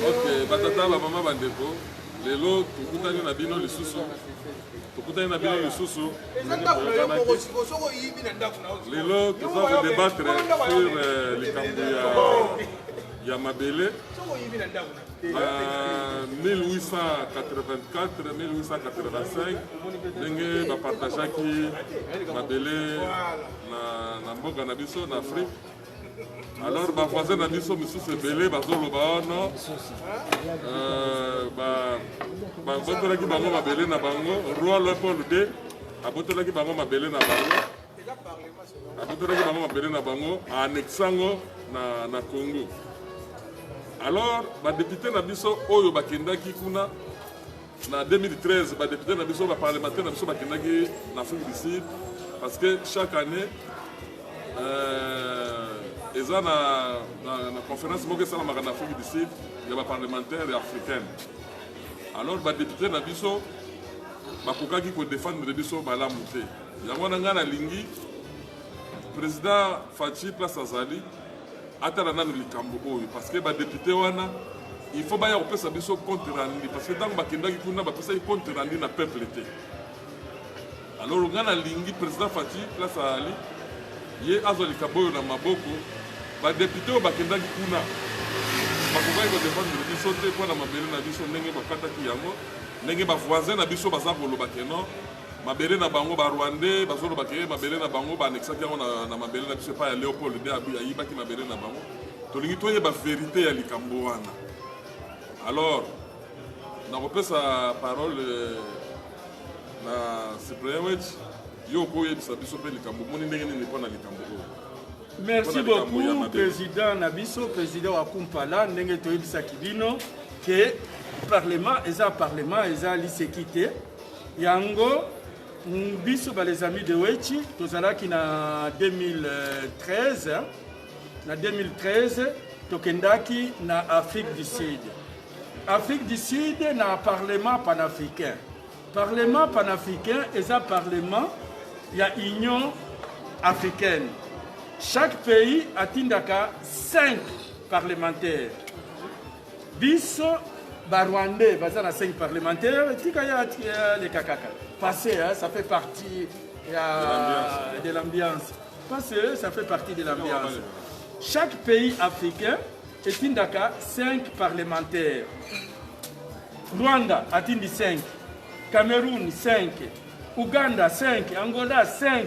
ok batata bamama bandeko lelo tokutani na bino lisusu tokutani na bino lisusu lelo toza kodebattre sur euh, likambo ya mabele na 1884-1885 ndenge bapartageaki mabele na mboka na biso na afrique alors bavoisin na biso misusu ebele bazoloba wana euh, babotolaki bango mabele na bango roi leopold d abotolaki bango mabele na bango abotolaki bango mabele na bango aanexe yango na, na congo alors badepute na biso oyo bakendaki kuna Na 2013, ba deputes na biso, ba parlementaires na biso bakendaki na Afrique du Sud parce que chaque année euh, eza na, na, na conférence moko esalamaka na Afrique du Sud ya ba parlementaires ya africaine. Alors ba deputes na biso bakokaki kodefendre biso malamu te yango wana ngai nalingi président faci place azali atala nanu likambo oyo parce que ba député wana il faut baya kopesa biso compte rendu parce que ntango bakendaki kuna bapesaki compte rendu na peuple te alors ngai nalingi président fati place azali ye azwa likambo oyo na maboko badepute oyo bakendaki kuna bakokaki kodefendre biso te mpo na mabele na biso ndenge bakataki yango ndenge bavoisin na biso baza koloba keno mabele na bango ba rwandais bazoloba ke mabele na bango baanexaki yango na, na mabele na biso epai ya leopold nde ayibaki mabele na bango tolingi toyeba verite ya likambo wana alors nakopesa parole euh, na cyprienwech yo okoyebisa biso mpe likambo omoni ndenge nini mpo na likambo oyo merci beaucoup président na biso président wa kumpala ndenge toyebisaki bino ke parlement eza parlement eza liseki te yango biso ba les amis de Wechi tozalaki na 2013 na 2013 tokendaki na Afrique du Sud Afrique du Sud na parlement panafricain parlement panafricain eza parlement ya Union africaine chaque pays atindaka 5 parlementaires Biso ba rwandais baza na 5 parlementaire tika ya euh, leka kaka passe hein, ça fait partie ya de l'ambiance passe ça fait partie de l'ambiance chaque pays africain etindaka 5 parlementaire rwanda atindi 5 cameroun 5 uganda 5 angola 5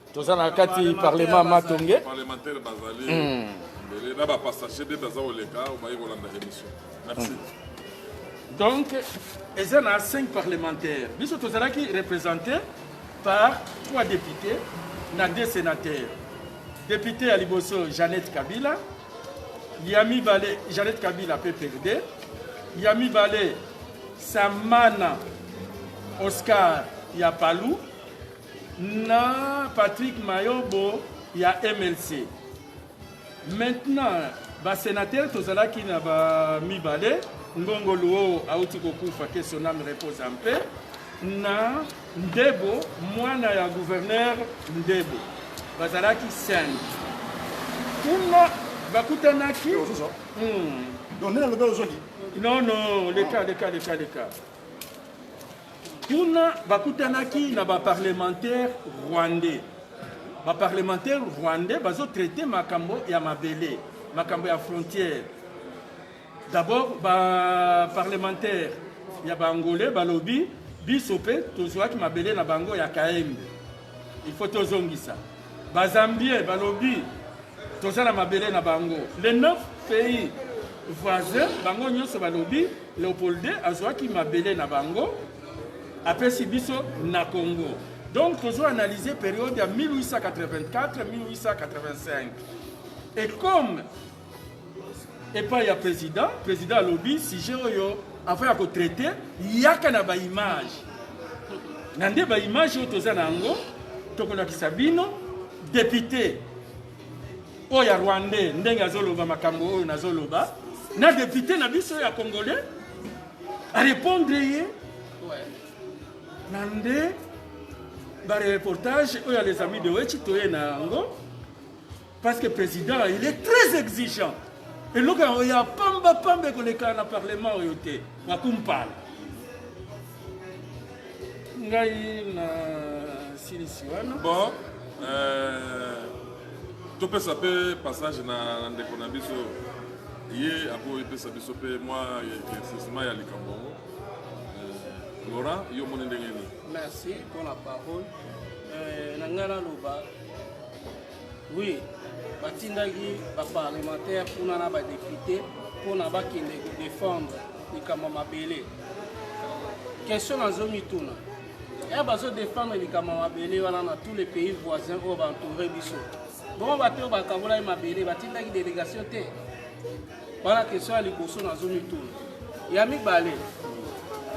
toza na kati parlement matonge parlementaire bazali hmm. mbele na bapassage nde baza koleka obaye kolanda émission merci hmm. donc eza na 5 parlementaire biso tozalaki représenté par 3 députés na 2 sénateurs député ya liboso jeannette kabila ya mibale jeannette kabila pprd ya mibale samana oscar ya palu na Patrick Mayobo ya MLC. Maintenant, ba sénateur tozalaki na ba mibale ngongo luo auti kokufa que son âme repose en paix na ndebo mwana ya gouverneur ndebo bazalaki sende kuna bakutanaki hmm. non non leka leka leka leka Kuna bakutanaki na ba parlementaires rwandais. Ba parlementaires rwandais bazo traiter makambo ya mabele, makambo ya frontière. D'abord ba parlementaires ya ba angolais balobi biso pe tozuaki mabele na bango ya Kaembe. Il faut tozongisa. Ba Zambiens balobi toza na mabele na bango. Les neuf pays voisins bango nyonso balobi Leopold II azwaki mabele na bango apesi biso na Congo. Donc tozo analyser période ya 1884-1885. Et comme epai ya président président alobi sujet oyo avant ya kotraite yaka na baimage na nde baimage oyo toza na yango tokolakisa bino depute oyo ya rwandais ndenge azoloba makambo oyo nazoloba na depute na biso ya congolais arépondre ye na nde bareportage oyo ya les amis de wechi toye na yango Parce que président, il est très exigeant. Et donc, il y a pamba pamba que les cas dans le Parlement ont été. Ma compagnie. Ngai na silisi wana. Bon, euh, topesa mpe passage na ndeko na biso ye ako epesa biso mpe mwa éclaircissement ya likambo yango euh, laurent yo omoni ndenge nini merci mpo na parole euh, na ngai naloba Oui, batindaki ba parlementaire kuna na ba député mpona bakende ko défendre likambo mabele. Question nazo mituna. Ya eh, bazo défendre likambo mabele wana na tous les pays voisins oyo ba entouré biso. Bongo bato oyo bakabolaki mabele batindaki délégation te. Wana question ya liboso nazo mituna. Ya mibale,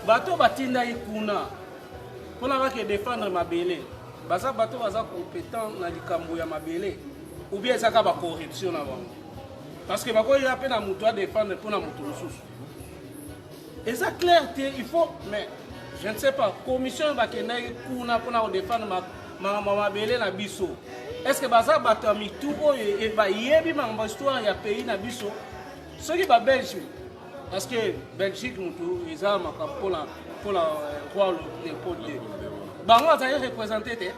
bato batindaki kuna mpona bake défendre mabele Baza bato baza competent na likambo ya mabele ou bien ezaka ba corruption na bango parce que bakoya mpe na moto adefendre mpo na moto mosusu eza clair te il faut mais je ne sais pas commission bakendaki kuna mpona kodefendre mabele na biso est ce que baza bato ya mitu oyo bayebi makambo histoire ya pays na biso soki babelge Parce que Belgique mutu eza makambo pona pona euh, roi Leopold te. Bango azali représenter te.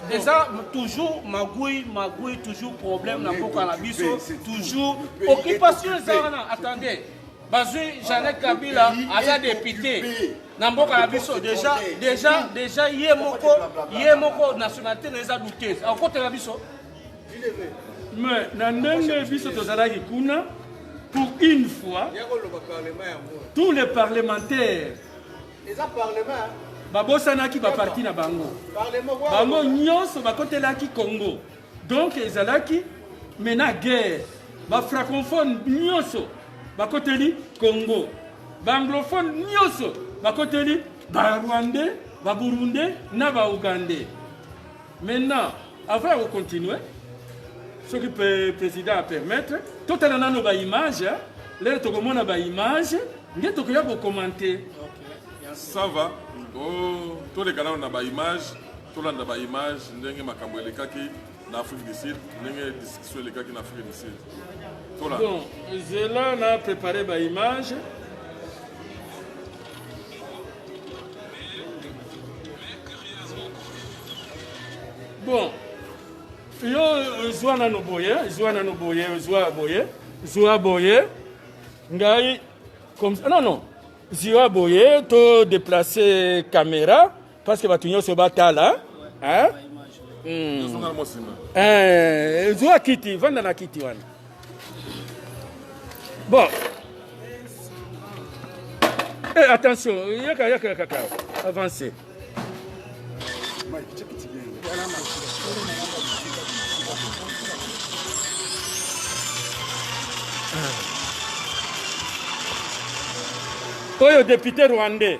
eza toujours magui magui toujours problème na mboka na biso toujours occupation eza wana attendez bazwi janet kabila aza depute na mboka na biso deja deja deja ye moko ye moko nationalité na eza douteuse akokotela biso mais na ndenge biso tozalaki kuna pour une fois tous les parlementaires babosanaki baparti na bango bango nyonso bakotelaki congo donc ezalaki mena guerre bafrancophone nyonso bakoteli congo baanglophone nyonso bakoteli barwandais baburundais na baougandais Maintenant, avant de continuer, ce que le président a permettre, tout à l'heure, ba image, hein. là, tu as ba image, tu as commenter. Ça va. Oh, tous les canaux, on a ba image, tout le monde a ba image, ndenge makambo elekaki na Afrique du Sud, ndenge discussion elekaki na Afrique du Sud. Tola. Bon, zela na préparé ba image. bon yo zwa nano boye zwa nano boye zwa boye zwa boye ngai comme ça non non zwa boye to déplacer caméra Presque bato nyonso batala hein? Hmm. Eh, zwa kiti vanda na kiti wana bon eh, attention yaka yaka yaka ka avance oyo depute rwandais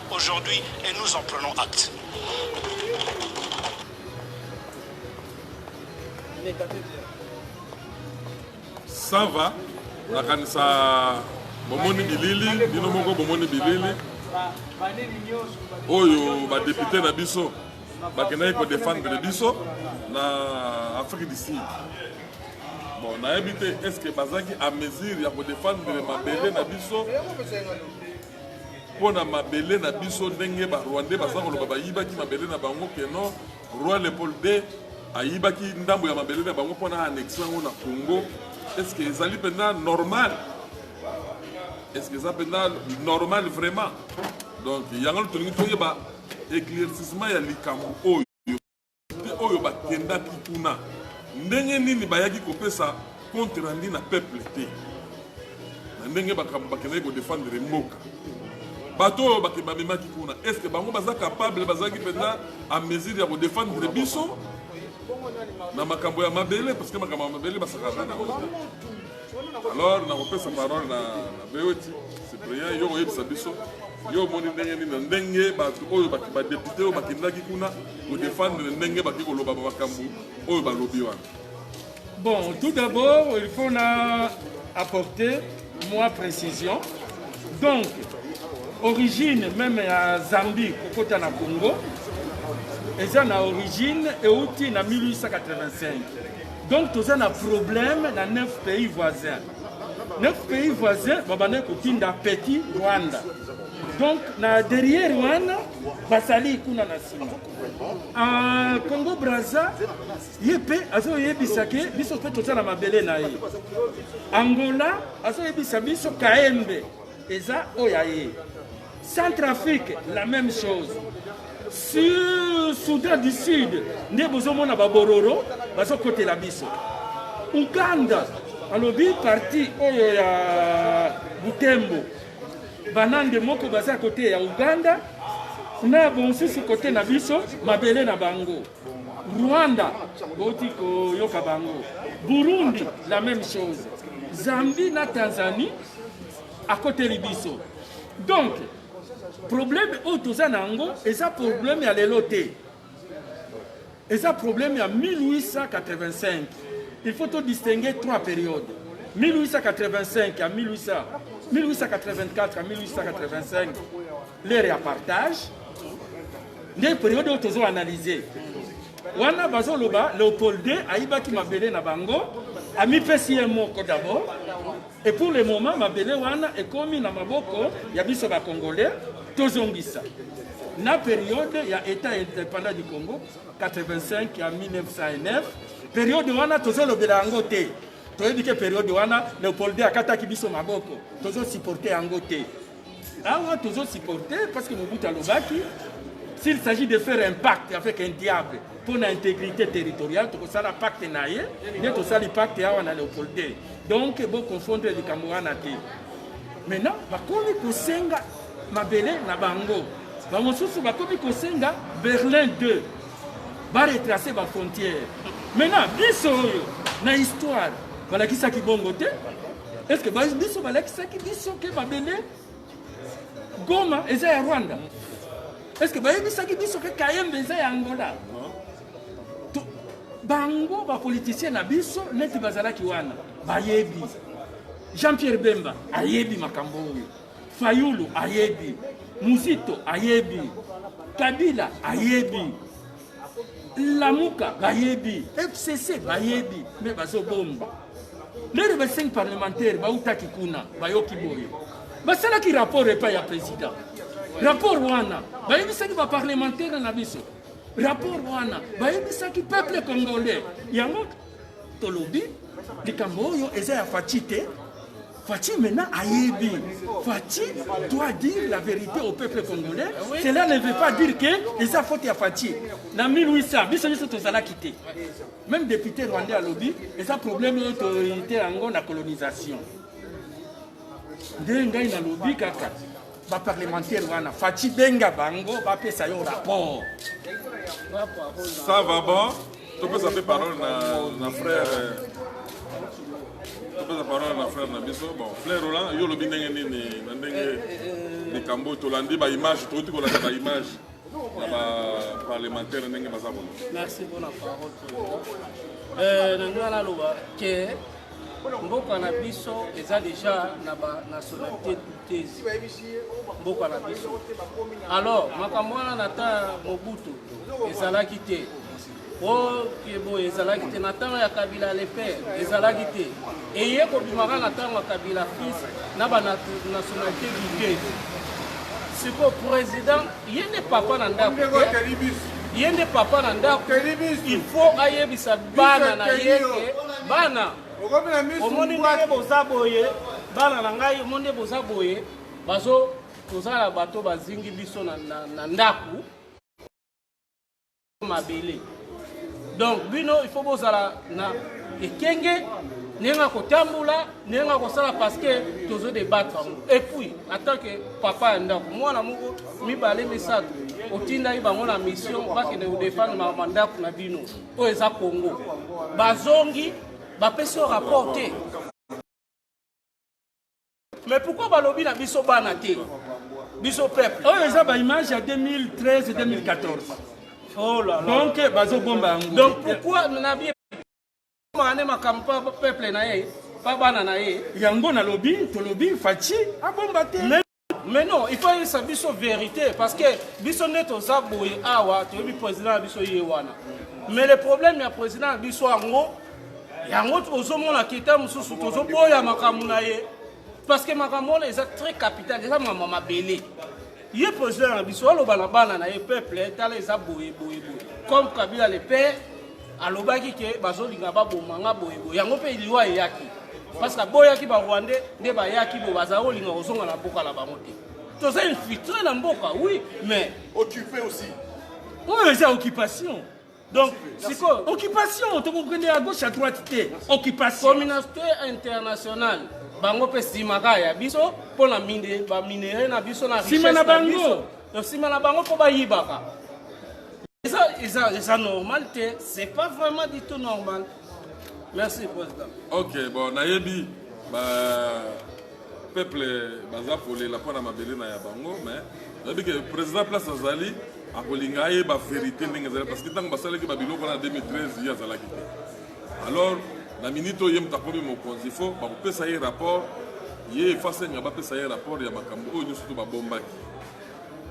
aujourd'hui et nous en prenons acte. Ça va nakanisa bomoni bilili bino moko bomoni bilili oyo badepute na biso bakendaki kodefendre biso na afrique du sud bon nayebi te est ce que bazalaki à mesure ya kodefendre mabele na biso mpo na mabele na biso ndenge barwandais baza koloba bayibaki mabele na bango keno roi leopold de ayibaki ndambo ya mabele na bango mpo na annexe yango na congo estce ezali mpenza normal estce eza mpenza normal vraiment donc yango tolingi toyeba éclaircissement ya likambo oyo Mpe oyo bakendaki kuna, ndenge nini bayaki kopesa compte rendu na peuple te, na ndenge bakambo bakendaki kodefendre mboka bato oyo bake bamemaki kuna est-ce que bango baza capable bazalaki mpenza a mesure ya kodefendre biso na makambo ya mabele parce que makambo ya mabele basakaka na alors nakopesa parole na beoti cyprien yo koyebisa biso yo omoni ndenge nini na ndenge bato oyo badepute oyo bakendaki kuna kodefendre ndenge baki koloba makambo oyo balobi wana bon tout d'abord il faut na apporter moi précision donc origine meme ya zambie kokota na congo eza na origine euti na 1885 Donc toza na problème na 9 pays voisins. 9 pays voisins babandaki kotinda petit Rwanda. Donc na derrière wana basali kuna na sima. Ah, Congo Brazza ye mpe azoyebisa ke biso mpe toza na mabele na ye. Angola azoyebisa biso Kaembe eza oyo ya ye. Centrafrique la même chose. Sur Soudan du Sud nde bozomona babororo bazokotela biso. Uganda alobi parti oyo ya Butembo banande moko baza kote ya Uganda na bonsusu kote na biso mabele na bango. Rwanda boti koyoka bango. Burundi la même chose. Zambie na Tanzanie akoteli biso donc problème oyo toza na yango eza problème ya lelo te eza problème ya 1885 il faut todistingue trois périodes 1885 ya 1800 1884 ya 1885 lere ya partage nde periode oyo tozo analyse wana bazoloba leopold ayibaki mabele na bango amipesi ye moko d'abord Et pour le moment mabele wana ekomi na maboko ya biso ba congolais tozongisa na periode ya etat independant du Congo 85 ya 1909 periode wana tozolobela yango te toyebi ke periode wana Leopold akataki biso maboko tozosupporte yango te awa tozo supporter parce que mobutu alobaki s'il s'agit de faire un pacte avec un diable mpo na intégrité territoriale tokosala pacte na ye nde tosali pacte awa na leopold te donc boconfondre likambo wana te maintenant bakomi kosenga mabele na bango bamosusu bakomi kosenga berlin 2 baretrace bafrontière maintenant biso oyo na histoire balakisaki bongo te Est-ce que ba biso balakisaki biso ke mabele Goma eza ya Rwanda? Est-ce que bayebisaki biso ke Kayembe eza ya Angola? Bango ba politiciens na biso neti bazalaki wana bayebi. Jean-Pierre Bemba ayebi makambo oyo. Fayulu ayebi. Muzito ayebi. Kabila ayebi. Lamuka bayebi. FCC bayebi mais bazobomba. lelo ba cinq parlementaire bautaki kuna bayoki boye basalaki rapport epai ya président rapport wana bayebisaki baparlementaire na biso rapport wana bayebisaki peuple congolais yango tolobi likambo oyo eza ya faci te Fatih maintenant a aidé. Fatih doit dire la vérité au peuple congolais. Oui. Cela ne veut pas dire que les faute à Fatih. En 1800, nous sommes tous à la quitter. Meme depute rwandais alobi eza problème oyo toyite yango na colonisation. Nde ngai nalobi kaka ba parlementaire wana Fatshi benga bango bapesa yo rapport. Ça va bon? Topesa pe parole na na frère euh, topesa parole na frère na biso. Bon, frère Roland, yo lobi ndenge nini na ndenge likambo tolandi ba image toti kolanda ba image na ba parlementaire ndenge baza koloba merci mpona parole euh, na ngai naloba ke mboka na biso eza deja na banationalité douteuse mboka na biso alors makambo wana na ta mobutu ezalaki te oyo boye ezalaki te na ntango ya kabila le père ezalaki te eye kobimaka na ntango ya kabila fils na banationalité bike siko président ye nde papa na ndako ye nde papa na ndako il faut ayebisa bana na ye ke bana omoni ndenge boza boye bana na ngai omoni nde boza boye bazo tozala bato bazingi biso na ndako mabele donc bino il faut bozala na ekenge ndenge na kotambola ndenge na kosala parce que tozo debattre yango et puis en tant que papa ya ndako mwana moko mibale misato otindaki bango na mission bakende kodefendre makambo ya ndako na bino oyo eza congo bazongi bapesi yo rapport te Mais pourquoi balobi na biso bana te biso peuple oyo eza ba image ya 2013 2014 oh là là donc bazo bomba yango donc pourquoi na bien mane makambo pa peuple na ye pa bana na ye yango nalobi tolobi faci abomba te mais non il faut ayebisa biso vérité parce que biso nde toza boye awa toyebi président na biso ye wana mais le problème ya président na biso yango yango ozomona kita mosusu tozoboya makambo na ye parce que makambo wana eza très capital eza makambo mabele ye président na biso aloba na bana na ye peuple tala eza boye boye boye comme kabila le père alobaki ke bazolinga baboma nga boye boye yango mpe liwa eyaki parce que aboyaki barwandais nde bayaki bo bazali kolinga kozonga na mboka na bango te toza infiltre na mboka oui mais occupé aussi oyo eza occupation Donc, sikoyo occupation tokokende ya gauche à droite te occupation communauté internationale bango mpe nsima kaka ya biso mpo na baminere na biso na nsima na bango nsima na bango mpo bayibaka eza eza eza normal te c'est pas vraiment du tout normal merci président ok bon nayebi ba peuple baza kolela mpo na mabele na ya bango mais nayebi ke président place azali akolinga ayeba verité ndenge ezali parce que ntango basalaki babiloko wana na 2013 ye azalaki te alors na minute oyo ye moto akomi mokonzi fo bakopesa ye rapport ye efasenga bapesa ye rapport ya makambo oyo nyonso to babombaki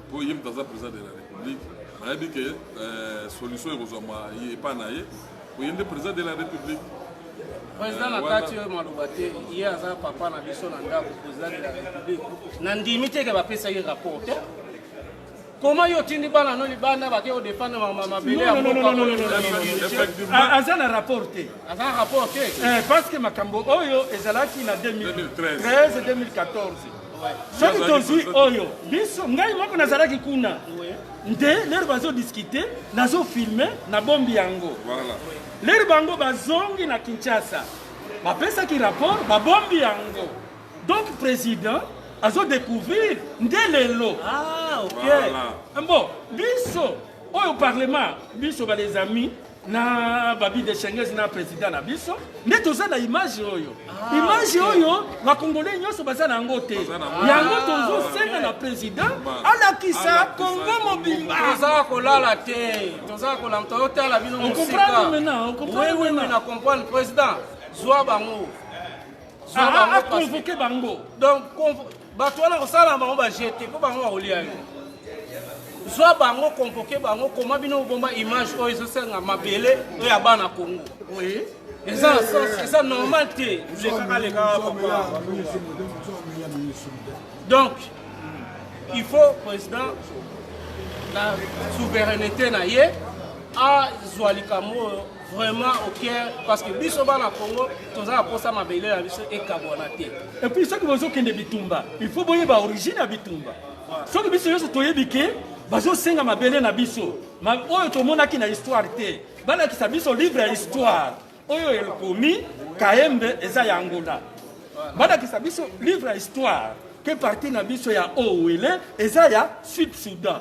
mpo ye moto aza président de la république nayebi ke euh, solution ekozwama epai na ye oye nde président de la république président na kati oyo maloba te ye aza papa na biso na ndako président de la république na ndimi te ke bapesaki rapport te koma yo otindi bana no libanda bake odefendre mabele aza na rapport te aza na rapport te eh, parce que makambo oyo ezalaki na 2013 2014 soki tozwi oyo biso ngai moko nazalaki kuna nde lere bazodiskite nazofilme na bombi yango lere bango bazongi na kinshasa bapesaki rapport babombi yango donc président azodecouvrir nde lelo ah, mbo biso oyo parlement biso balesamis na babi de chenges na president na biso nde toza na image oyo ah, image oyo bakongole nyonso baza na yango te yango tozosenga na president alakisa kongo mobimba toza kolala te toza kolala toyotala bino mosikaokomprana comprendre president zwa bango zwa ah, ah, bango convoke bango donc bato wana kosala bango bajete mpo bango bakolia yo zwa bango konvoke bango koma bino obomba image oyo ezosenga mabele oyo ya bana kongo eza na sens eza normal te lekaka lekaka papa donc il faut président na souveraineté na ye azwa likambo oyo vraiment au cœur parce que biso bana Congo toza na posa mabele na biso ekabwana te et puis soki bozokende bitumba il faut boyeba origine ya bitumba soki biso nyonso toyebi ke bazosenga mabele na biso oyo tomonaki na histoire te balakisa biso livre ya histoire oyo ekomi kaembe eza ya angola balakisa biso livre ya histoire ke parti na biso ya owele eza ya sud sudan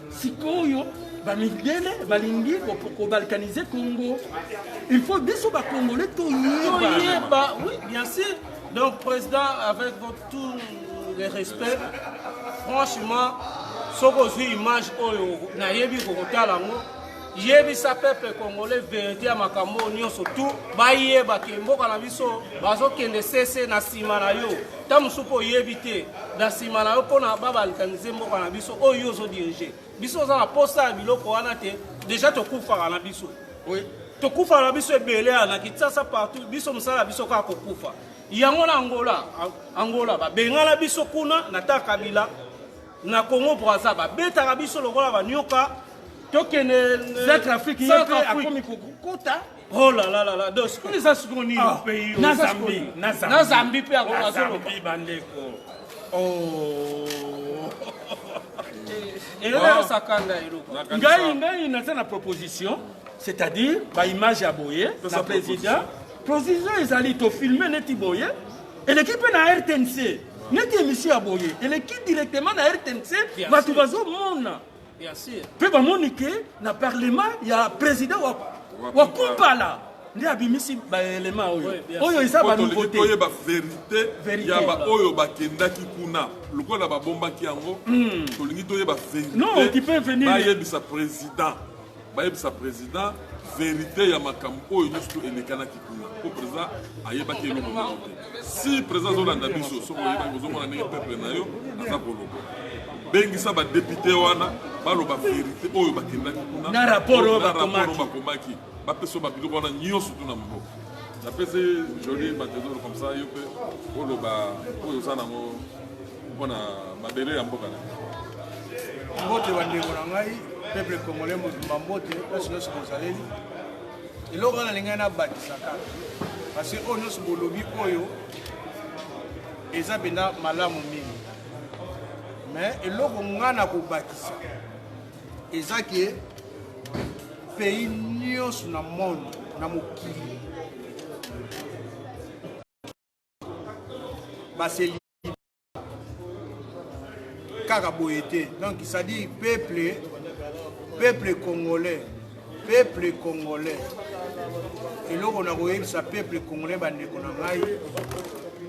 sikoyo bamidele balingi kobalkanize congo il faut biso bakongole toyeba oui bien sûr donc président avec votre tout le respect franchement soki ozwi image oyo nayebi kokotala yango yebisa peuple congolais verite ya makambo oyo nyonso tu bayeba ke mboka na biso bazokende sese na nsima na yo ntango mosusu mpo oyebi te na nsima na yo mpo na babalkanize mboka na biso oyo yo ozodirige biso oza na mposa ya biloko wana te deja tokufaka na biso tokufaka na biso ebele ya na kinsasa partout biso mosala ya biso kaka kokufa yango na angola angola babengana biso kuna na ta kabila Na Congo Brazza ba betaka biso lokola ba nyoka. Tokende euh, Centre Afrique ye pe akomi kokota. Oh là là là là, donc ce qu'on les a secondes au ah, pays, na Zambie, na Zambie, na Zambie pe à la Zambie bandeko. Oh. Et là ça kanda eloko. Ngai ngai na tana proposition, c'est-à-dire ba image ya boye, na président. Proposition ezali to filmer neti boye. eleki mpe na rtnc neti emission ya boye eleki directement na rtnc bato bazomona mpe bamoni ke na parlement ya président wa, wa kumpala nde abimisi baelema oyo oyo eza banouveauté oyeba verité ya baoyo bakendaki kuna lokola babombaki yango hmm. tolingi toyeba verité bayebisa président bayebisa president verite ya makambo oyo nyonso to elekanaki kuna mpo president ayebaki eloko moko te si president azolanda biso soki oyebaki ozomona ndenge peuple na yo aza koloba bengisa badepute wana baloba verite oyo bakendaki kuna na rapport oyo bakomaki bapesa babiloko wana nyonso tu na maboko napesi joli matedoro comme ça yo mpe oloba oyo oza nango mpo na mabele ya mboka na mbote bandeko na ngai peuple congolais mobimba mbote place nyonso bozaleli eloko wana nalingai nabatisaka parce que oyo nyonso bolobi oyo eza mpenza malamu mingi mais eloko ngai na kobakisa eza ke pays nyonso na monde na mokili baseli kaka boye te donc cestadire peuple peuple congolais peuple congolais eloko na koyebisa peuple congolais bandeko na ngai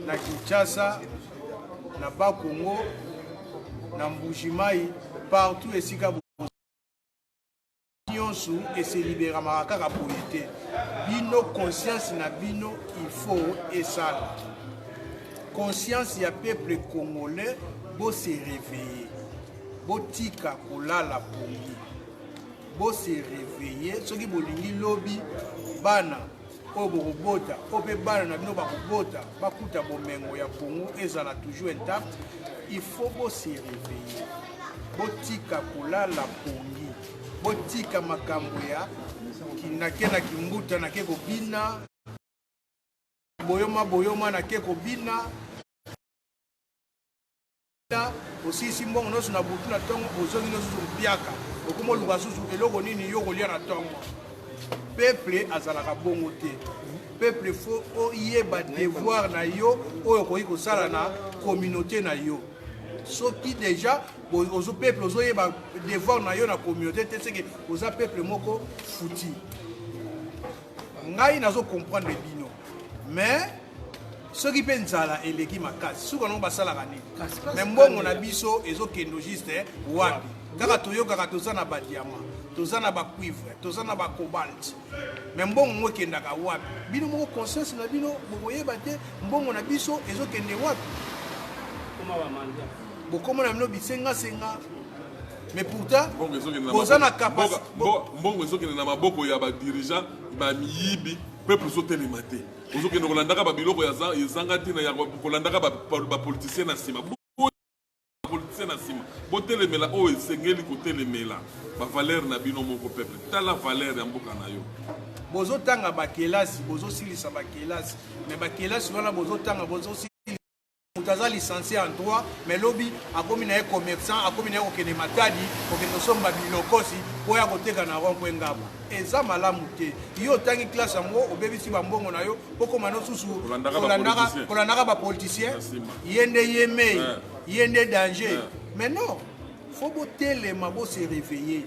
na kinshasa na bakongo na mbujimai partout esika nyonso eseliberamaka kaka boye te bino conscience na bino il faut esala conscience ya peuple congolais bose réveille botika kolala pongi bose réveille soki bolingi lobi bana oyo bokobota oyo mpe bana na bino bakobota bakuta bomengo ya congo ezala toujours intact il faut bose réveiller botika kolala pongi botika makambo ya nake na kimbuta nake kobina boyoma boyoma nake kobina osilisi mbongo nyonso na butu na ntongo ozongi nosusu mpiaka okoma oluka susu eloko nini yo kolia na ntongo peple azalaka bongo te peple fo oyeba devoir na yo oyo okoki kosala na communauté na yo soki deja ozo peple ozoyeba devoir na yo na communauté te seke oza peple moko futi ngai nazo comprendre bino mais soki mpe nzala eleki makasi suka nango basalaka nini me mbongo na biso ezokendo juste eh, wapi kaka toyokaka toza na badiama toza na bacuivre toza na bacobalt me mbongo ngo ekendaka wapi bino moko conscience na bino bokoyeba te mbongo na biso ezokende wapi bokoma na bino bisengasenga mais pourtant boza na capacité mbongo ezokende na maboko ya ba dirigeant ba miyibi peuple ezotelema te ozokende kolandaka ba biloko ya ezanga ntina ya kolandaka ba politicien na nsima politicien na nsima botelemela oyo esengeli kotelemela ba valeur na bino moko peuple tala valeur ya mboka na yo bozotanga bakelasi bozosilisa bakelasi me bakelasi wana bozotanga bozosilisa moto aza licencie en droit mais lobi akomi na ye commerçant akomi na ye kokende matadi kokende kosomba bilokosi mpo ya koteka na rond mpo ngaba eza malamu te yo otangi classe yango obebisi bambongo na yo okoma nosusu kolandaka bapoliticien ye nde ye mei ye nde danger mais non faut botelema bo se réveiller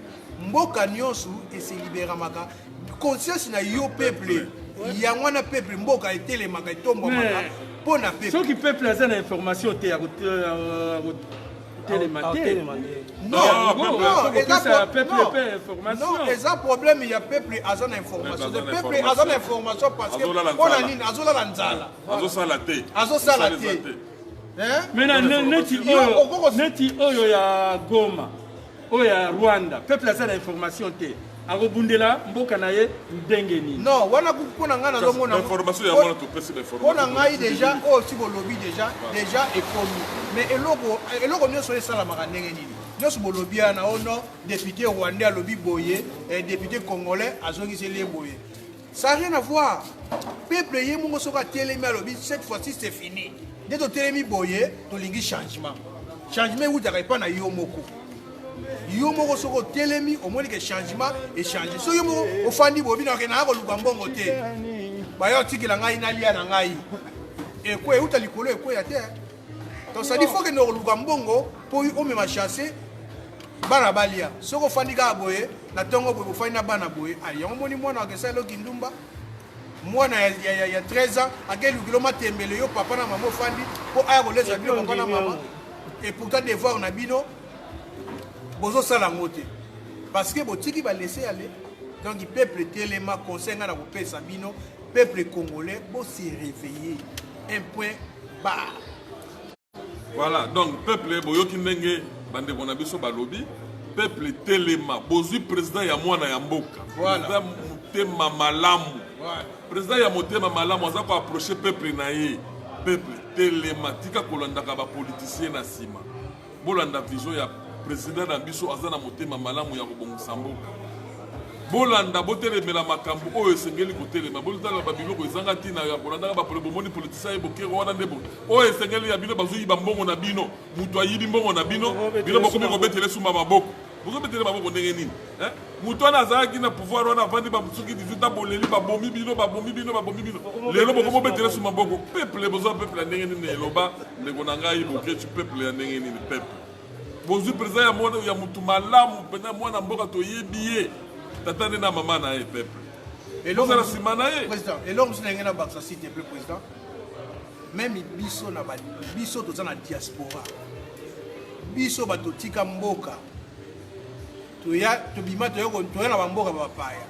mboka nyonso eseliberamaka conscience na yo peuple yango wana peuple mboka etelemaka etombwamaka mpo na peuple soki peuple aza na information te kotelema te eza problème ya peuple aza na information te peuple aza na information parce que mpo na nini azolala nzala azosala te mena neti oyo neti oyo ya goma oyo ya rwanda peuple aza na information te akobundela mboka na ye ndenge nini non wana mpo na ngai nazomgonampo na ngai deja oyo oh, siko olobi deja deja ekomi mais eloko eloko nyonso esalamaka ndenge nini nyonso bolobi wana ono oh, depute rwandais alobi boye eh, depute congolais azongiseli ye boye Ça rien à voir. Peuple ye mongo soka telemi alobi cette fois-ci c'est fini. Nde to telemi boye to lingi changement. Changement ou daka epa na yo moko. Yo moko soko telemi omoni ke changement et changer. So yo moko ofandi bobi na kena ko luka mbongo te. Ba yo tikela ngai na lia na ngai. Ekwe uta likolo ekwe ya terre. Donc ça dit faut que nous luka mbongo pour o mema chasser bana balia. Soko fandi ka boye na tongo boye fandi na bana boye. Ayi yango moni mwana akesa lo kindumba. Mwana ya ya ya 13 ans akeli kilo matembele yo papa na maman fandi po aya ko lesa bino papa na maman. Et pourtant devoir na bino bozo sala ngo te. Parce que botiki ba laisser aller. Donc peuple telema conseil nga na kopesa bino peuple congolais bo se réveiller. Un point ba voilà donc peuple boyoki ndenge bandeko na biso balobi peuple telema bozwi président ya mwana ya mboka voilà. motema malamu voilà. président ya motema malamu aza koaproche peuple na ye peuple telema tika kolandaka bapoliticien na nsima Bolanda vision ya president na biso, aza na motema malamu ya kobongisa mboka. Bolanda, botelemela makambo oyo esengeli kotelema. Bolanda ba biloko ezanga tina ya kolandaka bapole. Bomoni politisa ye bokero wana nde oyo esengeli ya bino, bazoyiba mbongo na bino, moto ayibi mbongo na bino, bino bokomi kobetele sumba maboko. bozobetele maboko ndenge nini eh? moto wana azalaki na pouvoir wana avandi basoki 18 ans boleli babomi bino babomi bino babomi bino lelo bokomobetele su maboko peuple boza peuple ya ndenge nini eloba ndeko na ngai bokeci peuple ya ndenge nini peuple bozwi mpenza ya mwana ya motu malamu mpenza mwana mboka toyebi ye tata nde na mama na ye peuple elozala nsima na ye eloko mosu na yange na bakisa site mpe président meme biso na ba, biso toza na diaspora biso bato tika mboka toya tobima toya toya na bamboka ba bapaya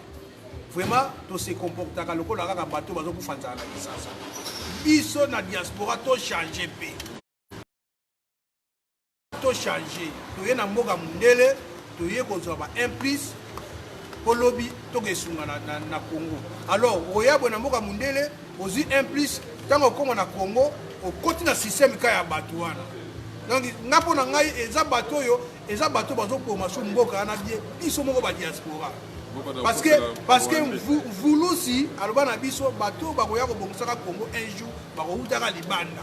vraiment tose comportaka lokola kaka bato bazokufa nzala na kisasa biso na diaspora tochange mpe to change toye na mboka mundele toye kozwa ba 1 plus mpo lobi tokesunga na, na, na congo alors oyabwe na mboka mundele ozwi 1 plus ntango okoma na congo okoti na systeme ka ya bato wana donc nga mpo na ngai eza bato oyo eza bato bazoboma so mboka wana bie biso moko badiaspora parce que parce que vulusi aloba na biso bato bakoya kobongisaka congo un jour bakowutaka libanda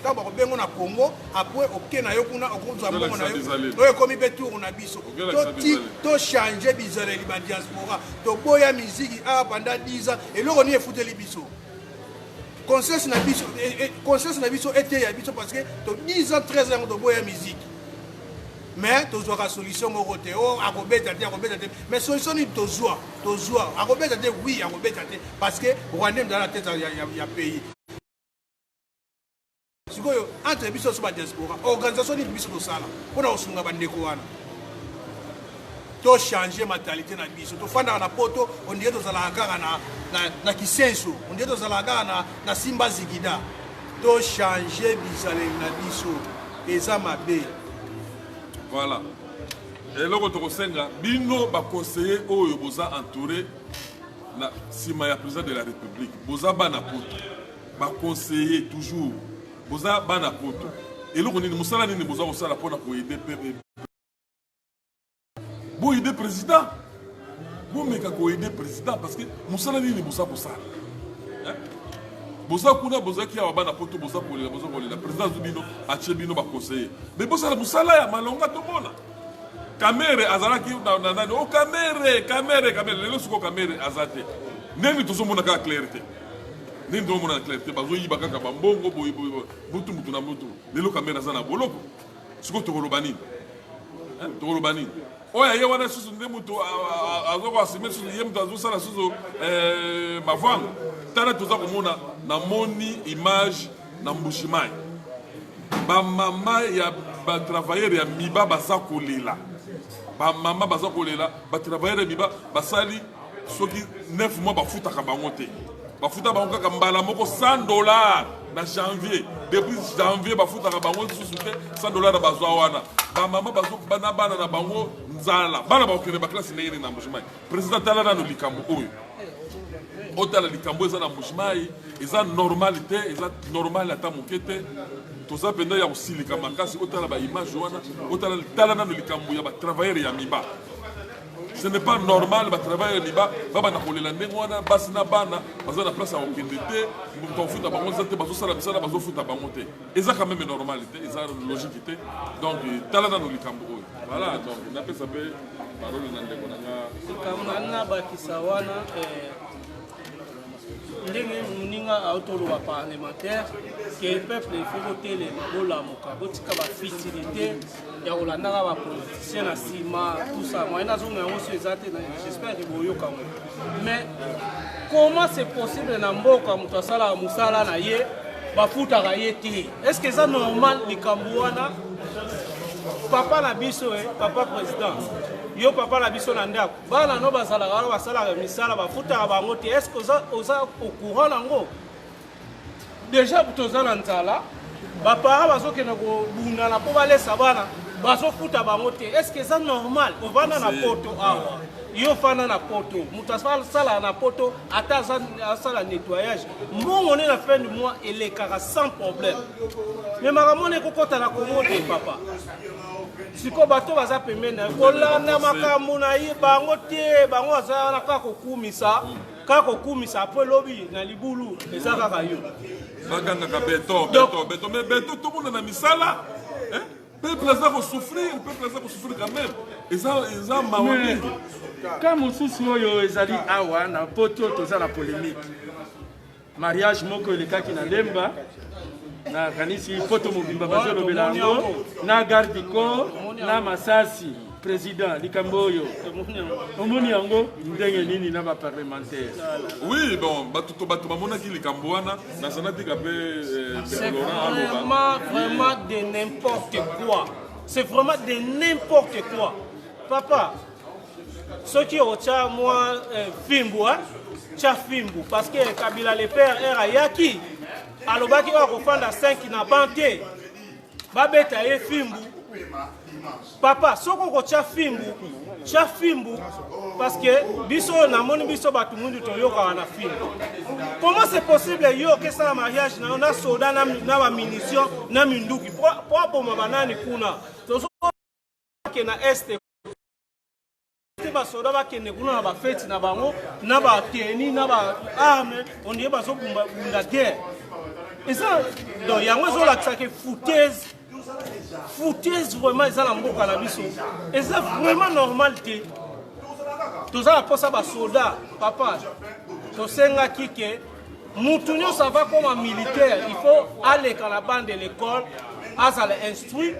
ntango bakobengo na congo apres oke na yo kuna okozwa mbongo na yo oyo ekomi mpe tour na biso tochange bizaleli ba diaspora toboya miziki awa panda 10 ans eloko nini efuteli biso conscience na biso eh, eh, conscience na biso eteya biso parce que to 10 ans 13 yango toboya miziki mais tozwaka solution moko te o oh, akobeta te akobeta te mais solution nini tozwa tozwa akobeta te oui akobeta te parce que rwandais mzala na tete ya pays sikoyo entre biso nyonso badiaspora organisation nini biso tosala mpo na kosunga bandeko wana tochange mentalité na biso tofandaka na poto ondire tozalaka kaka na, na, na kisenso ondire tozalaka kaka na, na simba zigida tochange bizaleli na biso eza mabe voilà eloko tokosenga bino baconseiller oyo boza entouré na nsima ya président de la république boza bana poto Ba conseiller toujours boza bana poto eloko nini musala nini boza kosala pona ko aider peuple bo aider president bomeka ko aider president parce que musala nini boza kosala boza kuna bozalaki awa bana poto boza kolela boza kolela president azwi bino atie bino baconseiller me bosala mosala ya malonga tomona kamere azalaki na nani o oh, kamere kamere kamere lelo siko kamere aza te ndenge tozomona kaka claire te nini tomona na clarté bazoyiba kaka bambongo boye boye mutu mutu na mutu lelo kamere aza na boloko sikoyo tokoloba nini tokoloba nini oyo aye wana susu nde moto azoko asime susu ye moto azosala susu eh, mavanga tala toza komona namoni image na mbushimai bamama ya batravailleur ya miba baza kolela bamama baza kolela batravailleur ya miba basali soki 9 mois bafutaka bango te bafuta bango kaka mbala moko 100 dollar na janvier depuis janvier bafutaka bango lisusu te 100 dollar na bazwa wana bamama na bana na bango nzala bana bakokende baklase ndenge nini na mbujimayi président tala nano likambo oyo otala likambo eza na mbujimayi eza normal te eza normal ata moke te toza mpenza ya kosilika makasi otala baimage wana otala tala nano likambo ya batravailleur ya miba Ce n'est pas normal ba travailleurs liba ba bana kolela ndenge wana basi na bana baza na place ya kokende te moto afuta bango eza te bazosala misala bazofuta bango te eza quand même normal te eza logique te donc tala nano likambo oyo voilà donc napesa mpe parole na ndeko na nga likambo na nga bakisa wana eh, ndenge moninga aotoloba parlementaire ke peuple efo kotelema bolamuka botika bafitilité ya kolandaka ba politicien na nsima tout ça moyen nazonga yango so eza te j'espère ke boyoka yango mais comment c'est possible na mboka moto asalaka mosala na ye bafutaka ye te est ce que eza normal likambo wana papa na biso e papa président yo papa na biso na ndako bana no bazalaka wana basalaka misala bafutaka bango te est ce que oza au courant nango deja toza na nzala bapara bazokende kobundana mpo balesa bana bazofuta bango te estce eza normal ovanda na poto awa yo fanda na poto moto asala na poto ata asala nettoyage mbongo nde na fin du mois elekaka sans problème me makambo na ekokɔta na kongo te papa sikoyo bato baza pembeni na ye kolanda makambo na ye bango te bango baza wana kaka kokumisa kaka kokumisa apres lobi na libulu eza kaka yo bagangaka beton beton beton mais beton tomona na misala peuple aza kosouffrir peuple aza kosouffrir quand même eza eza mawa mingi ka mosusu oyo ezali awa na poto toza na polémique Mariage moko elekaki na Lemba na kanisi poto mobimba bazolobela yango na garde du corps na masasi président likambo oyo omoni yango ndenge nini na baparlementaire oui bon bato to bato bamonaki likambo wana nazana tika mpe euh, vraiment vraiment de n'importe quoi c'est vraiment de n'importe quoi papa soki otya mwa eh, fimbu eh, tya fimbu parce que kabila le père r ayaki alobaki oyo akofanda 5 na ban te babeta ye fimbu papa soki okotya fimbu tya fimbu parce que biso oyo namoni biso bato mundu toyokaka na fimbu comment c'est possible yo okesala mariage na yo na soda na bamunition na minduki mpo aboma banani kuna bakende na este te basoda bakende kuna na bafeti na bango na bateni na baarme ondie bazobunda guerre eza don yango ezolakisaki foutaise foutaise vraiment eza na mboka na biso eza vraiment normal te toza na mposa basoda papa tosengaki ke mutu nyonso ava koma militaire il faut aleka na bande de l'école azala instruit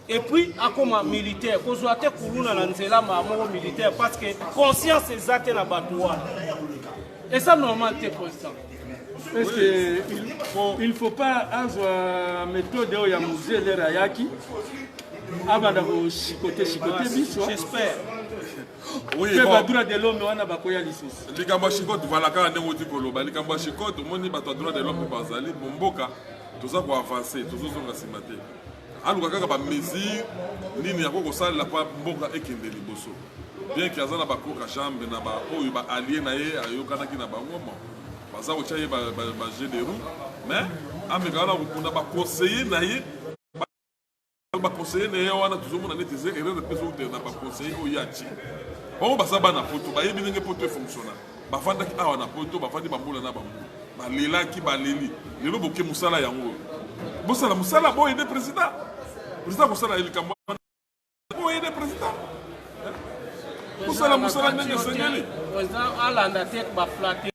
et puis akoma militaire kozwa te kuluna na nzela maa moko militaire parce que conscience eza te na bato wana eza normal te président est-ce que il faut, il faut pas azwa méthode oyo ya musée lere ayaki abanda koshikote shikote biso j'espère mpe badroit de l'homme wana bakoya lisusu likambo ya shikote vala kaka ndenge oti koloba likambo ya shikote omoni bato ya droit de l'homme bazali bomboka toza koavanse tozozonga nsima te aluka kaka ba mesure nini yako kosalela pa mboka ekende liboso bien ke aza na bakoka jambe na baoyo ba alie na ye ayokanaki na bango bon baza kotya ye baje de roue mais amekaka na kokunda baconseille na ye baconseille na ye wana tozomona neti eza erreur mpe ezokutela na baconseille oyo ye atie bango baza bana poto bayebi ndenge poto efonctionnaka bafandaki awa na poto bafandi bambula na bambula balelaki baleli lelo boke mosala yango oyo bosala mosala boyede président président kosala ye likambo boyede président kosala mosala ndenge esengeli alanda te baflate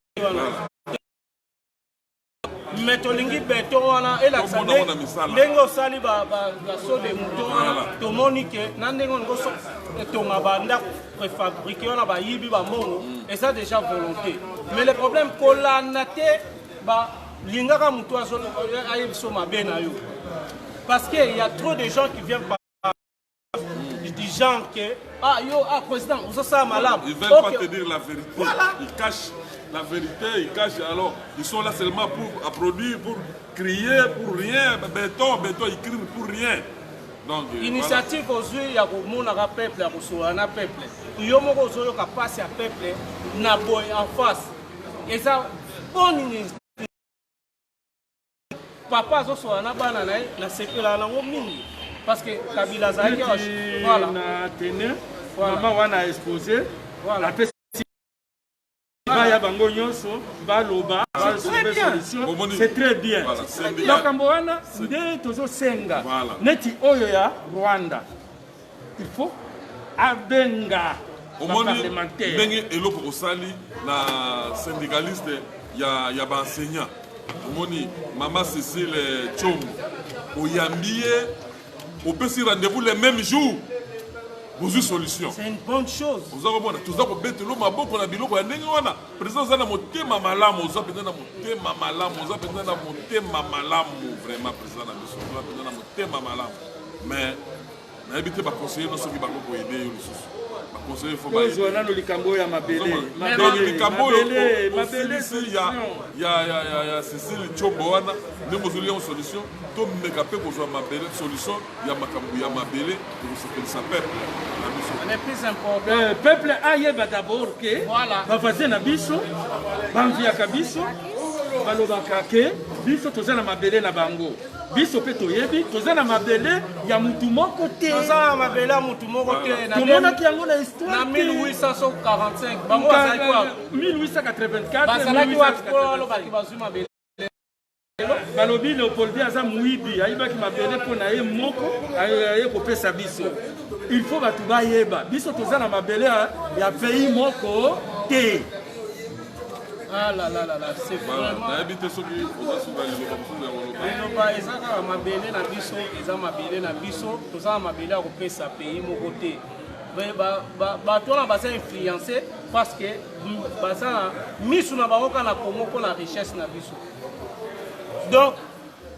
mais tolingi beton wana elakisa ndenge osali baso de mouton wana tomoni ke na ndenge olingi otonga bandako préfabriqué wana bayibi bambongo mm. eza déjà volonté mais le problème kolanda te balingaka motu ayebiso mabe na yo parce que ya trop de gens qui viennent du genre que ah yo ah président vous ça ça malade ils veulent okay. pas te dire la vérité voilà. ils cachent la vérité ils cachent alors ils sont là seulement pour à produire pour crier pour rien béton béton ils crient pour rien donc euh, initiative voilà. ozwi ya komonaka peuple ya kosolola na peuple yo moko ozoyoka mpasi ya peuple na boye en face eza bonne papa azoswana na bana na ye nasepelaka nango mingi parce que kabila azalaki voilà. na tene voilà. mama wana expose voilà. apesi baya bango nyonso baloba c'est très bien makambo wana nde tozosenga neti oyo ya rwanda il faut abenga omoni ndenge eloko osali na syndicaliste ya, ya baenseignant omoni mama cecile chombo oyambi ye opesi rendez-vous le même jour bozwi solution oza komona toza kobetelo maboko na biloko ya ndenge wana président oza na motema malamu oza mpenza na motema malamu oza mpenza na motema malamu vraiment président na biso oza mpenza na motema malamu mais nayebi te baconseiller no soki bango koyede yo lisusu baconseiller fo tozwa nano likambo oyo ya mabelelikambo oyo osilisi ya cecile combo wana nde mozoli yango solution tomeka mpe kozwa mabele solution ya makambo ya mabele ekosepelisa peuple na biso euh, peuple ayeba d'abord ke bavaze na biso bamviaka biso balobaka ke biso toza na mabele na bango biso mpe toyebi toza na mabele ya mutu moko te toza na mabele ya mutu moko te tomonaki yango na histoire na 1845 bango bazalaki wa 1884 bazalaki wa kolobaki bazwi mabele balobi leopoldi aza moyibi ayibaki mabele mpo na ye moko aye kopesa biso il faut bato bayeba biso toza na mabele ya pays moko te Ah là là là là, c'est vraiment. nayebi te soki oza suka liloba mosusu ya koloba liloba eza kaka mabele na biso eza mabele na biso toza na mabele ya kopesa pays moko te Mais ba- ba- bato wana baza influence parce que mm, baza na misu na bango kaka na kongo mpo na richesse na biso donc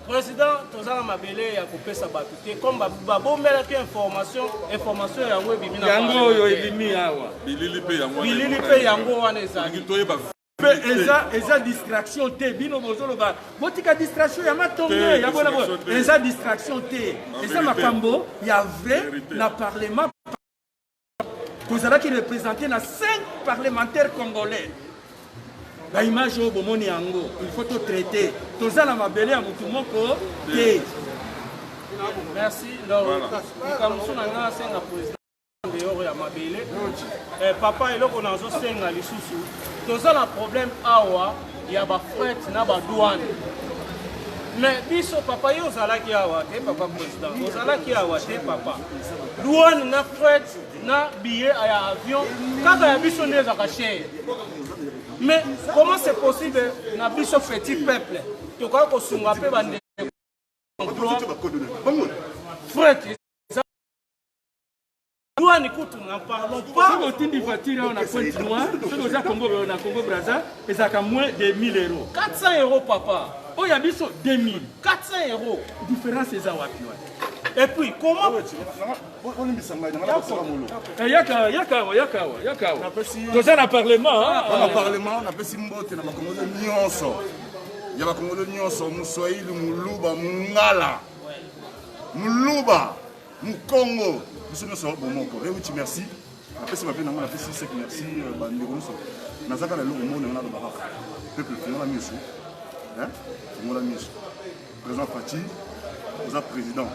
President, toza na mabele ya kopesa bato te comme babomelaki information information yango ebimi yango oyo ebimi awa bilili mpe yango bilili mpe yango wana ezali toyeba mpe eza eza distraction te bino bozoloba botika distraction ya matonge ya bona eza distraction te eza makambo ya vrai na parlement tozalaki represente na 5 parlementaire congolais baimage oyo bomoni yango il faut totraite toza na mabele ya motu moko te merci likambo mosusu na ngai asenga président dehors ya mabele eh, papa eloko nazosenga lisusu toza na problème awa ya ba fret na ba douane mais biso papa yo ozalaki awa te papa président ozalaki awa te papa douane na fret na billet ya avion kaka ya biso nde ezalaka chere mais comment c'est possible na biso petit peuple tokoki kosunga mpe bande fret Douane kutu n'en parlons pas. Soki otindi voiture awa na Pointe Noire, soki oza Congo na Congo Brazza, ezalaka moins de 1000 euros. 400 euros papa. Oyo ya biso 2000. 400 euros. Différence eza wapi wapi? Et puis comment olimbisa ngai nanga nakosala molo yaka yaka awa yaka awa yaka awa toza na parlement na parlement napesi mbote na bakongolo nyonso ya bakongolo nyonso moswahili moluba mongala moluba Mukongo biso nyonso bomoko ewuti merci napesi bape nango napesi sek merci euh, bandeko nyonso nazaka na eloko moni yango nalobaka peuple fongola miso fongola miso président fati oza président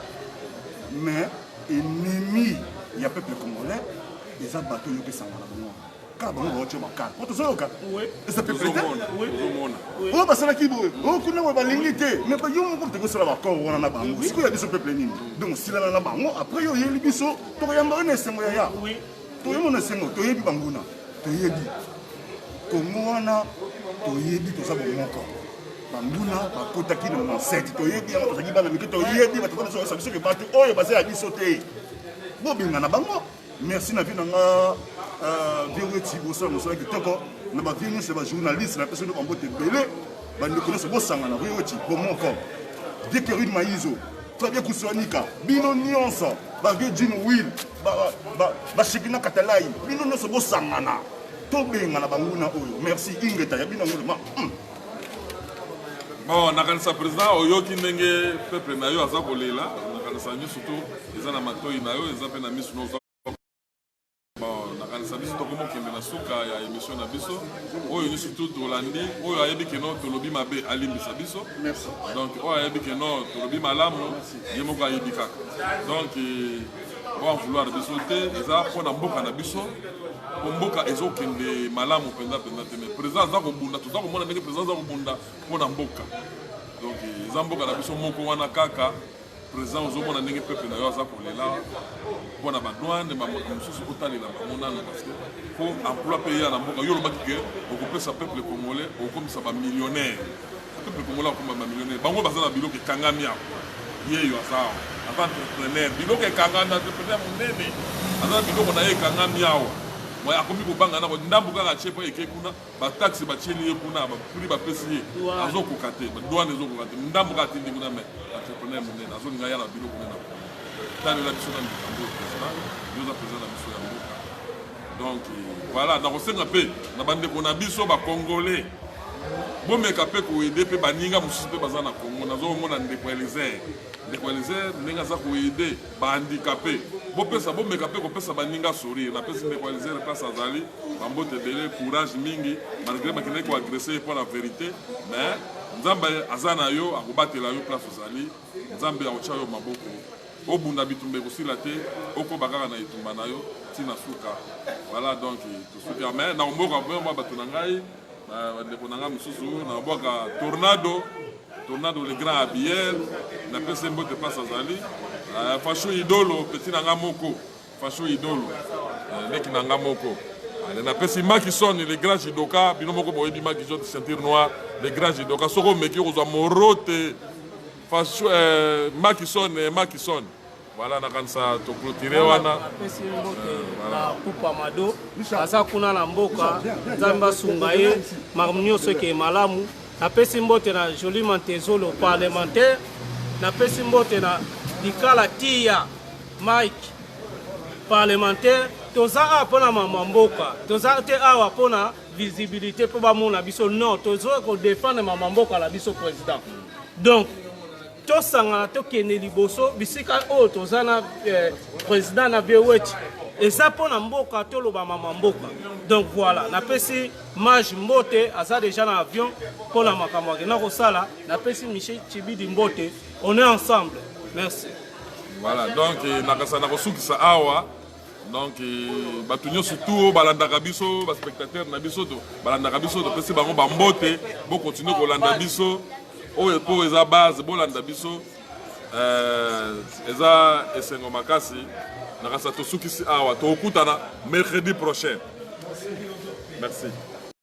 mais ennemi ya peuple congolais eza bato oyo opesanga na bango kaka bango baotyo makala po tozoyoka oyo basalaki boye oyo kuna boye balingi te me yo moko toki osala bakor wana na bango sikoyo ya biso peuple nini donc osilana na bango après yo oyeli biso tokoyamba yo na esengo ya ya toyemo na esengo toyebi banguna toyebi kongo wana toyebi toza bomoko banguna bakotaki na mansete toyebi yango tozalaki bana mike toyebi bato biso biso ke bato oyo baza ya biso te bobengana bango merci na vie na nga euh, vieux weti bosala mosala kitoko na ba vieux nyonso ya bajournaliste na pesa nde bambote ebele bandeko nyonso bosangana vieux weti bomoko vieux kerine maizo fabien kusuanika bino nyonso ba vieux jin will bashekina katalai bino nyonso bosangana tobengana banguna oyo merci ingeta ya bino yango lema hmm. bon nakanisa président oyoki ndenge peuple na yo aza kolela nakanisa misu to eza na matoi na yo eza mpe na misu noza nakanisa biso tokoma okende na suka ya émission na biso oyo nyonso tu tolandi oyo ayebi keno tolobi mabe alimbisa biso donc oyo ayebi keno tolobi malamu ye moko ayebi kaka donc oa vouloir biso te eza mpo na mboka na biso mpo mboka ezokende malamu mpenza mpenza te mais président aza kobunda toza komona ndenge président aza kobunda mpo na mboka donc eza mboka na biso moko wana kaka président ozomona ndenge peuple na yo aza kolela mpo na badwane bamboka mosusu otalela bango nano parce que mpo emploi mpe eya na mboka yo olobaki ke okopesa peuple congolais okomisa bamillionnaire peuple congolais akoma ba millionnaire bango baza na biloko ekangami awa yeyo aza awa aza entrepreneur biloko ekangami entrepreneur monene aza na biloko na ye ekangami awa moi akomi kobanga nako ndambo kaka atie mpo eke kuna bataxe batieli ye kuna bapri bapesi ye azokoka te douane ezokoka te ndambo kaka atindi kuna mai entrepreneur monene azolinga ya na biloko nene talela biso na likambo oyo president yoza president na biso ya mboka donc voilà nakosenga mpe na bandeko na biso bacongolais bomeka mpe koede mpe baninga mosusu mpe baza na congo nazomona ndeko elizer ndeko elizer ndenge aza koede bahandikape bopesa bomeka mpe kopesa baninga sourire napesi ndeko elizer place azali bambote ebele courage mingi malgré bakendaki koagresse ye mpo na verité mais nzambe aza na yo akobatela yo place ozali nzambe akotya yo maboko Obunda bitumba ekosila te okoba kaka na etumba na yo ti na suka voilà donc tosuka mais na omboka vraiment bato na ngai bandeko na ngai mosusu na obwaka tornado tornado le grand abiel napesi mbote mpasi azali euh, fasho idolo peti na ngai moko fasho idolo euh, leki na ngai moko napesi makison le grand jidoka bino moko boyebi makison ceinture noire le grand jidoka soki omeki okozwa moro te Fasu, eh, Makison, eh, Makison. Voilà, nakanisa to clôturer wana. Apesi mbote na Kupa Mado. Aza kuna na mboka. Nzambe asunga ye. Makambo nyonso eke malamu. Napesi mbote na Jolie Mantezolo parlementaire. Napesi mbote na Likala Tia Mike parlementaire. Toza awa mpo na mama mboka. Toza te awa mpo na visibilité mpo bamona biso non tozoya kodefendre mama mboka na biso président donc tosangana tokende liboso bisika oyo toza na eh, président na bewech eza mpo na mboka toloba mama mboka donc voilà napesi mage mbote aza déjà na avion mpo na makambo akenda kosala napesi michel chibidi mbote on est ensemble merci voilà donc eh, nakasa nakosukisa awa donc euh, bato nyonso tu oyo balandaka biso baspectateur na biso to balandaka biso topesi bango bambote bokontinue kolanda biso oyo mpo eza base bolanda biso euh, eza esengo makasi nakasa tosukisi awa tokutana mercredi prochain merci